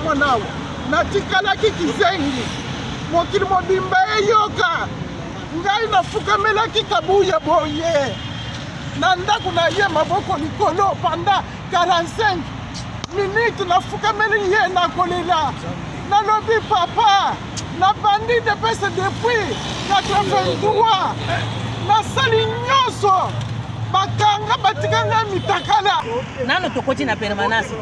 Mwanao, natikalaki kizengi, mokili mobimba eyoka ngai, nafukamelaki kabuya boye na ndako na ye, maboko likolo panda 45 minute, nafukameli ye, nakolela, nalobi papa, nabandi depese depuis 83 nasali nyonso bakanga batikanga mitakala nano tokoti na permanence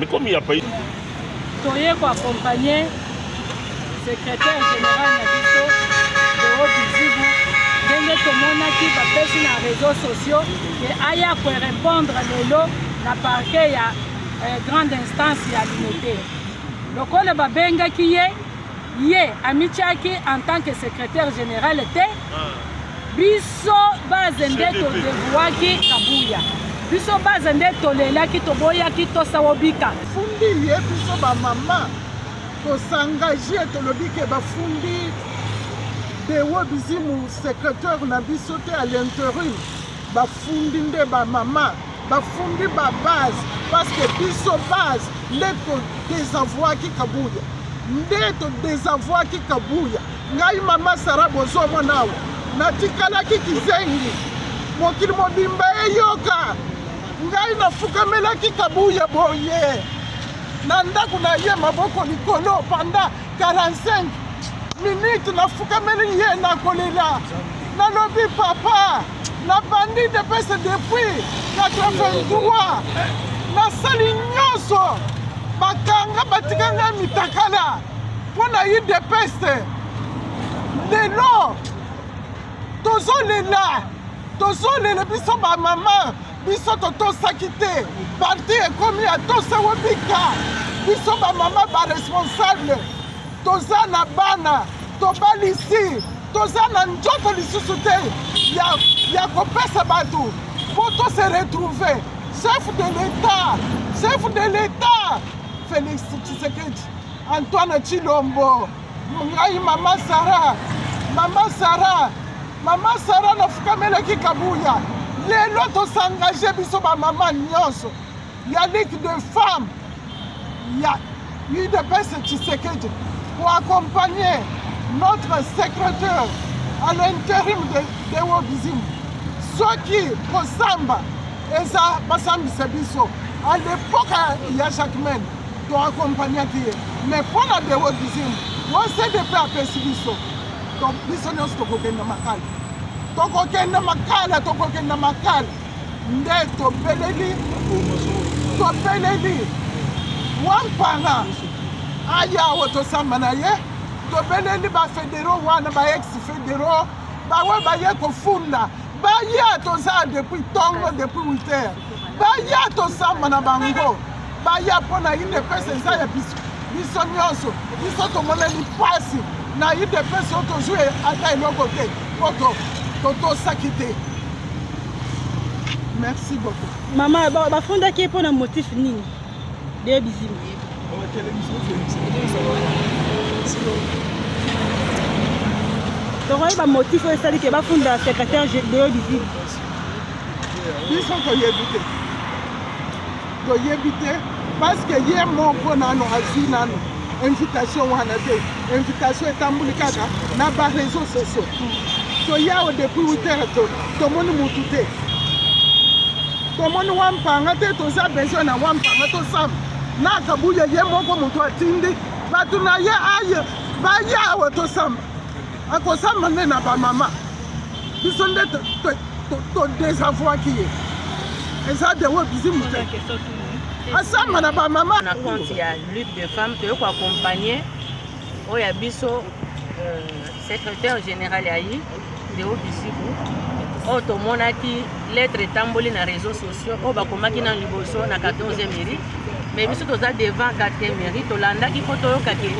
mikomi ya pays toye ko accompagner secrétaire général na biso Deo Bizibu ndenge tomonaki bapesi na réseaux sociaux ke aya korepondre lelo na parquet ya eh, grande instance ya limete lokola babengaki ye ye amityaki en tant que secrétaire général te ah. biso base nde todevuaki kabuya biso base nde tolelaki toboyaki tosawo bika fundi ye biso bamama tosengage tolobi ke bafundi dewo bizimu secrétaire na biso te à l'interim bafundi nde bamama bafundi ba base parce que biso base nde todesavoaki kabuya nde todesavoaki kabuya ngai mama sara bozomona awa natikalaki kizengi mokili mobimba eyoka ngai nafukamelaki kabuya boye na ndako na ye maboko likolo panda 45 minute nafukameli ye nakolela nalobi papa na bandi depese depuis 83 nasali nyonso bakanga batika ngai mitakala mpo na ye depese lelo tozolela tozolela biso bamama biso totosaki te parti ekomi atose wobika biso bamama baresponsable toza na bana tobalisi toza na nzoto lisusu te ya, ya kopesa bato mpo tose retrouve chef de l'etat chef de l'etat félix tshisekedi antoine tshilombo ngai mama sara mama sara mama sara nafukamelaki kabuya lelo tosangage biso bamama nyonso ya ligue de femme ya udps tshisekedi pour accompagner notre secrétaire à l'intérim de, de wobizim soki kosamba eza basambisa biso à l'époque ya jacquemaine to accompagnaki ye mais mpo na de wobizim wo cdp apesi biso donc biso nyonso tokokenda makala tokokenda makala tokokenda makala nde tobeleli tobeleli wampana aya awa tosamba na ye tobeleli bafedero wana ba ex federo bawe baye kofunda baya toza depuis ntongo depuis witer baya tosamba na bango baya mpo na udps eza ya biso biso nyonso biso tomoneli mpasi na udps oyo tozwi ata eloko te mpo totosaki te merci beaucoup mama bafundaki ye mpo na motif nini de bizima tokoki bamotif oyo esali ke bafunda secrétaire deo bizima biso toyebi te toyebi te paske ye moko nano azwi nano invitation wana te invitation etamboli kaka na bareseau sociaux toyawo depuis witere tomoni mutu te tomoni wampanga te toza besoin na wampanga tosamba na kabuya ye moko moto atindi bato na ye aye bayawa tosamba akosamba nde na bamama biso nde todesavoaki ye eza dewo bizi moto asamba na bamama na compte ya lutte de femme toye koaccompagne oyo ya biso euh, secrétaire général ya ye deo bisiku oyo oh, tomonaki lettre etamboli na réseau sociaux oyo oh, bakomaki na liboso na 14e mairie mais biso toza devant 4e mairie tolandaki mpo toyokaki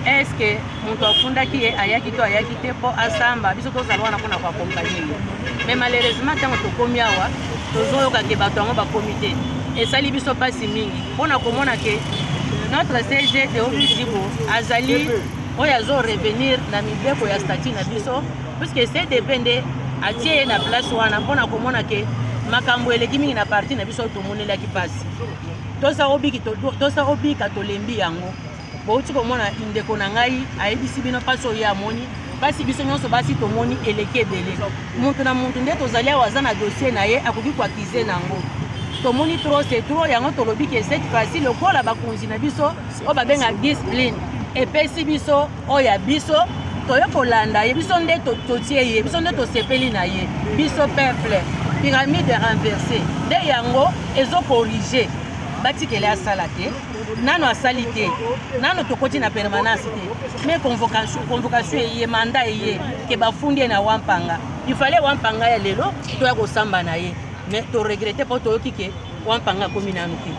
estce moto afundaki ye ayaki to ayaki te mpo asamba biso tozala wana mpona koakompanye ye mais malheureusement ntango tokomi awa tozoyoka ke bato yango bakomi te esali biso mpasi mingi mpo na komona ke notre cg teobi zibo azali oyo azo revenir na mibeko ya stati na biso puiske cdp nde atie ye na place wana mpo na komona ke makambo eleki mingi na parti na biso tomonelaki mpasi tosa obika tolembi yango bouti komona ndeko na ngai ayebisi bino mpasi oyo ye amoni mpasi biso nyonso basi tomoni eleki ebele moto na moto nde tozali awa aza na dossier na ye akoki koakize na yango tomoni tro se tro yango tolobi ke cette fois-ci lokola bakonzi na biso oyo babenga discipline epesi biso oyo ya biso toye kolanda ye biso nde totie ye biso nde tosepeli na ye biso peuple pyramide renverse nde yango ezokorige batikele asala te nano asali te nano tokoti na permanence te me convocation convocation eye mandat eye ke bafundi ye na wampanga il fallait wampanga ya lelo toya kosamba na ye me toregrete mpo toyoki ke wampanga akomi nanu te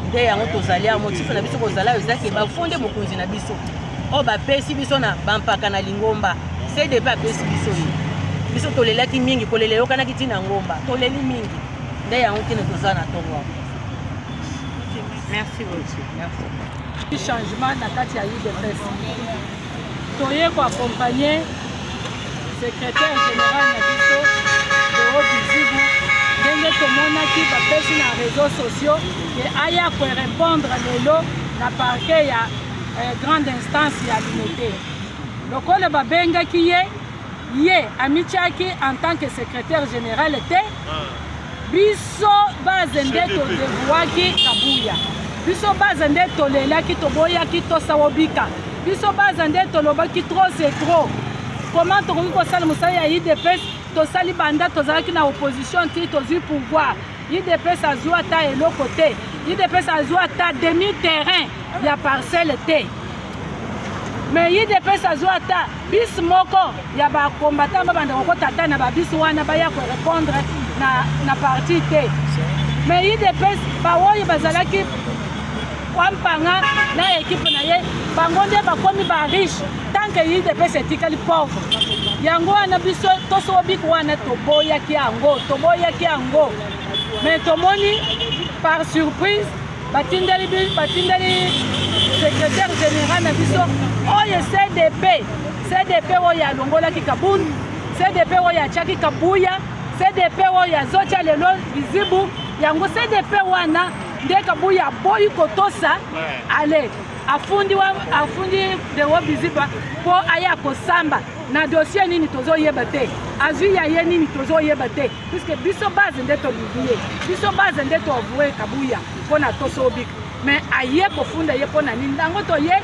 nde yango tozali ya motife na biso kozala oyo ezaki bafundi mokonzi na biso oyo bapesi biso na bampaka na lingomba cdp apesi biso ye biso tolelaki mingi kolela eyokanaki ntina ngomba toleli mingi nde yango kino toza na ntongo yango Merci beaucoup. Merci. Changement na kati ya UDPS. Toye ko accompagner secrétaire général na biso Deo Bizibu ndenge tomonaki bapesi na réseaux sociaux ke aya ko répondre lelo na parquet ya eh, grande instance ya Limete. Lokola babengaki ye ye amityaki en tant que secrétaire général te ah. biso base nde todevuaki kabuya biso base nde tolelaki toboyaki tosawobika biso base nde tolobaki trop c'est trop comment tokoki kosala mosala ya idps tosali banda tozalaki na opposition ti tozwi pouvoir Udps azua ata eloko te. Udps azua ata demi terrain ya parcelle te. Mais udps azua ata bis moko ya ba combattants ba banda kokota ata na ba bis wana baya ko répondre na na parti te. Mais udps ba oyo bazalaki Wampanga na ekipe na ye bango nde bakomi ba riche tanke idps etikali pauvre yango wana biso tosowo biko wana toboyaki yango toboyaki yango me tomoni par surprise batindeli batindeli secrétaire général na biso oyo cdp cdp oyo alongolaki kabund cdp oyo atiaki kabuya cdp oyo azotya lelo lizibu yango cdp wana nde kabuya aboyi kotosa ale afundi wa afundi dewo biziba mpo aya kosamba na dossier nini tozoyeba te azwi ya ye nini tozoyeba te puiske biso base nde tolingi ye biso base nde toavoue kabuya mpo na tosobika mais aye kofunda ye mpo na nini yango toye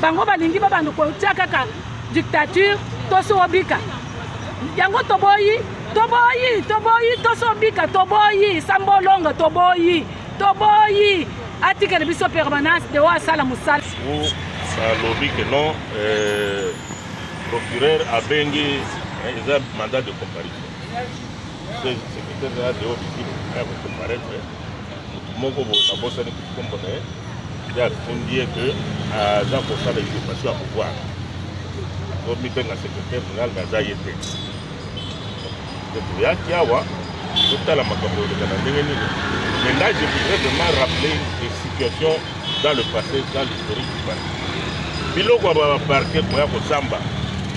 bango balingi babanda kotia kaka dictature tosi obika yango toboyi toboyi toboyi tosi obika toboyi sambolonga toboyi toboyi atikele biso permanence de oyo asala mosala alobi ke non euh, procureur abengi eh, eza mandat de comparaison secrétaire ya deo bikili ya kocomparaître motu moko boye nabosani kombo na ye nde atundi ye ke aza kosala usurpation ya pouvoir to mibenga secretaire général me aza ye te nde toyaki awa totala makambo eleka na ndenge nini mais là je voudrais vraiment rappeler des situations dans le passé dans l'historique du parti biloko ya baparke koya kosamba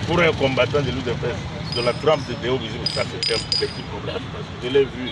pour un combattant de l'udps de la trempe de Deo Bizimou, ça c'est un petit problème. Je l'ai vu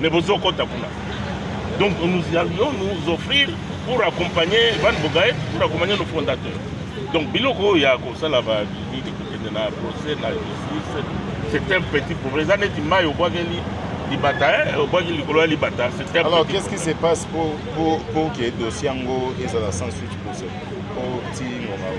mais bozo kota kuna donc nous allions nous offrir pour accompagner Van Bogaet pour accompagner nos fondateurs donc biloko oyo ya kosala bavisite kokende na procès na justice c'est un petit problème eza neti mai obwakeli libata eh, obwaki likolo ya libata c'est un alors qu'est-ce qui se passe pour, pour, pour que dossier yango ezala sans suite procès po ti ngomao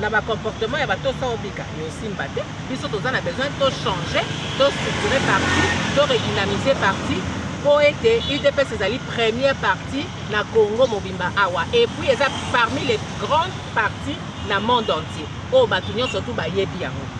na ba comportement ya ba tosa obika yo simba te biso toza na besoin to changer to structurer parti to redynamiser parti mpo ete udps ezali première parti na congo mobimba awa et puis eza parmi les grandes parties na monde entier oyo bato nyonso tu bayebi yango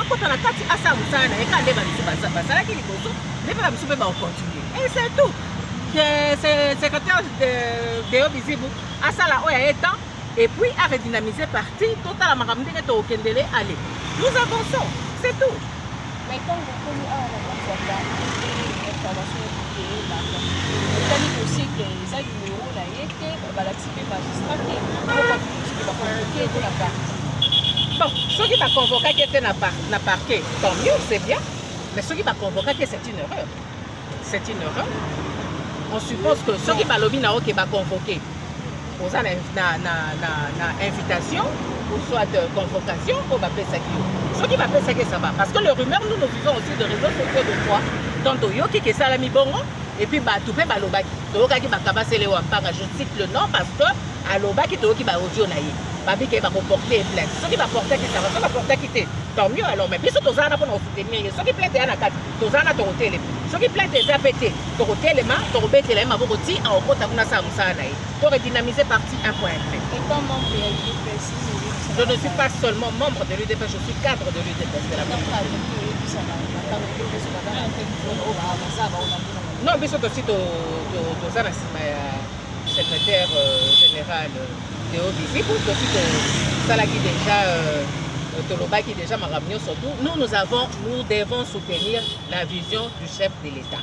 akota na kati asala mosala na ye kaka nde bamisu basalaki liboso nde mpe bamisu mpe baocontinue et c'est tout secrétaire deo bizibu asala oyo aye temps et puis a redynamiser parti totala makambo ndenge tokendele aller nous avançons c'est tout mais ntango okomi awa na kati ya information etali kosikle eza nimero na ye te babalakisi Bon, soki ba convocaki ete na par na parquet, tant mieux, c'est bien. Mais soki ba convocaki c'est une erreur. C'est une erreur. On suppose que soki balobi na oke ba convoquer oza na, na, na, na, na invitation ou soit de convocation oyo bapesaki yo soki bapesaki esaba parce que le rumeur nous nous vivons aussi de réseaux sociaux de fois donc toyoki kesalami bongo Et puis batu pe balobaki toyokaki bakabasele wa mpanga je cite le nom parce que alobaki toyoki ba audio na ye babike bakoporte ye plainte soki baportaki sava soki baportaki te tant mieux alors mais biso toza wana mpona kosoutenir ye soki plainte eya na kati toza wana tokotelema soki plainte eza pe te tokotelema tokobetela ye maboko ti akokota kuna asala mosala na ye to redynamiser parti 1 point Je ne suis pas seulement membre de l'UDP, je suis cadre de l'UDP. Non, biso tosi toza na nsima ya secrétaire euh, général euh, Théo Bizibu, tosi tosalaki déjà euh, tolobaki déjà makambo nyonso tout nous nous avons nous devons soutenir la vision du chef de l'État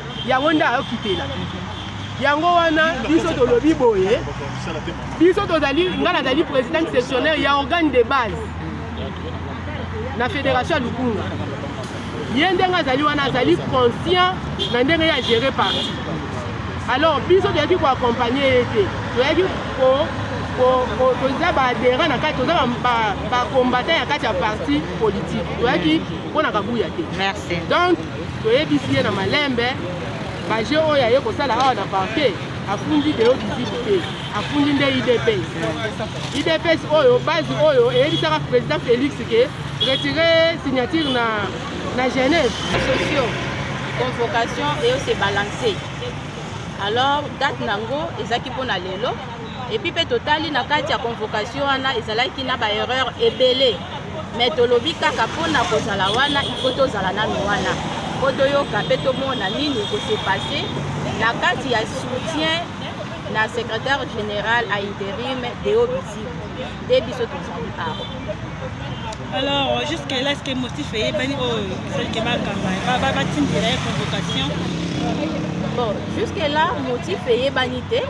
yango nde ayokitela yango wana biso tolobi boye biso tozali ngai nazali président sectionnaire ya organe de base na fédération ya lukunga ye ndenge azali wana azali conscient na ndenge ya gérer parti alors biso toyaki koaccompagne ye te toyaki toza baadhérent na kati toza bacombattant ya kati ya parti politique toyaki mpo na kabuya te donc Toyebisi ye na malembe ba jeux oyo aye kosala awa na parquet afundi deo visible te afundi nde idps idps oyo base oyo eyebisaka président félix ke retire signature na, na genève socio convocation eyo se balance alors date nango ezalaki mpo na lelo epuis mpe totali na kati ya convocation wana ezalaki na baerreur ebele me tolobi kaka mpo na kozala wana ifo tozala nano wana mpo toyoka mpe tomona nini ekose passe na kati ya soutien na secrétaire général a interim deo bizibu nde biso tozali awa alors jusque là ce que motif eyebani oyo esalike bakamba batindela ye convocation bon jusque là motif eyebani te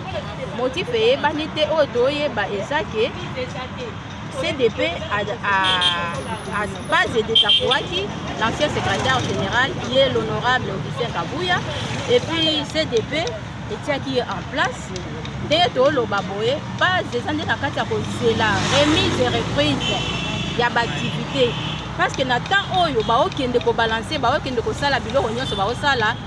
Motif eyebani te oyo toyeba eza ke CDP a, a, a base de Takuaki, l'ancien secrétaire général qui est l'honorable Augustin Kabuya, et puis CDP etiaki ye en place ndenge toloba boye base eza nde na kati ya kozela remise et reprise ya baaktivité parce que na temps oyo baokende kobalanse baokende kosala biloko nyonso baosala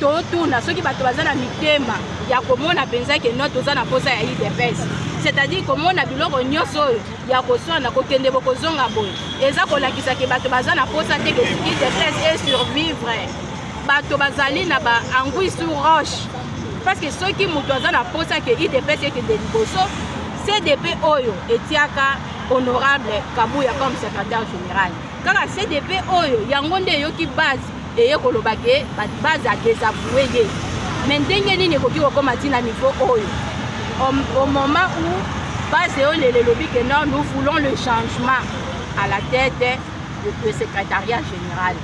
totuna soki bato baza na mitema ya komona mpenza ke no toza na mposa ya udps c'est-à-dire komona biloko nyonso oyo ya koswana kokende bokozonga boye eza kolakisa ke bato baza na mposa te ke udps e survivre bato bazali na ba angui sur roche parce que soki moto aza na mposa ke udps ekende liboso cdp oyo etiaka honorable kabuya comme secrétaire général kaka cdp oyo yango nde eyoki base eye koloba ke base adesavoue ye me ndenge nini ekoki kokóma ntina niveau oyo au moment où base eyo lelo elobi ke non nous voulons le changement à la tête de secrétariat général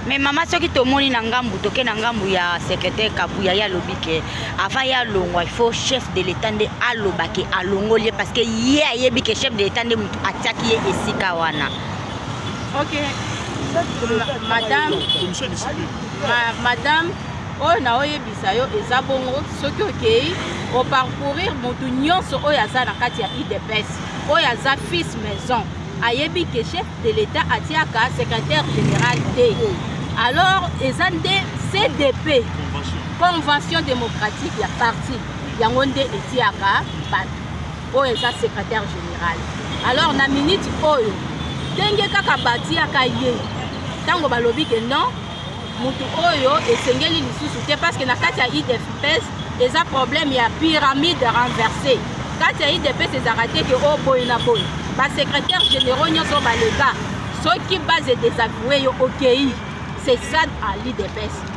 mais mama soki tomoni na ngambu toke na ngambu ya secrétaire kabuya ye alobi ke avant ye alongwa il faut chef de l'état nde aloba ke alongoli ye parce que ye ayebi ke chef de l'état nde motu atiaki ye esika wana ok madame madame oyo na oyebisa yo eza bongo soki okei oparcourir motu nyonso oyo aza na kati ya idps oyo aza fils maison ayebi ke chef de l'état atiaka secrétaire général te alors eza nde cdp convention démocratique ya parti yango nde etiaka bato oyo eza secrétaire général alors na minute oyo ndenge kaka batiaka ye ntango balobi ke non motu oyo esengeli lisusu te parce que na kati ya idfps eza problème ya pyramide renversée kati ya idps ezalaka te ke oyo boye na boye basecrétaire généraux nyonso baleka soki base desavoue yo okei c'est ça à l'idps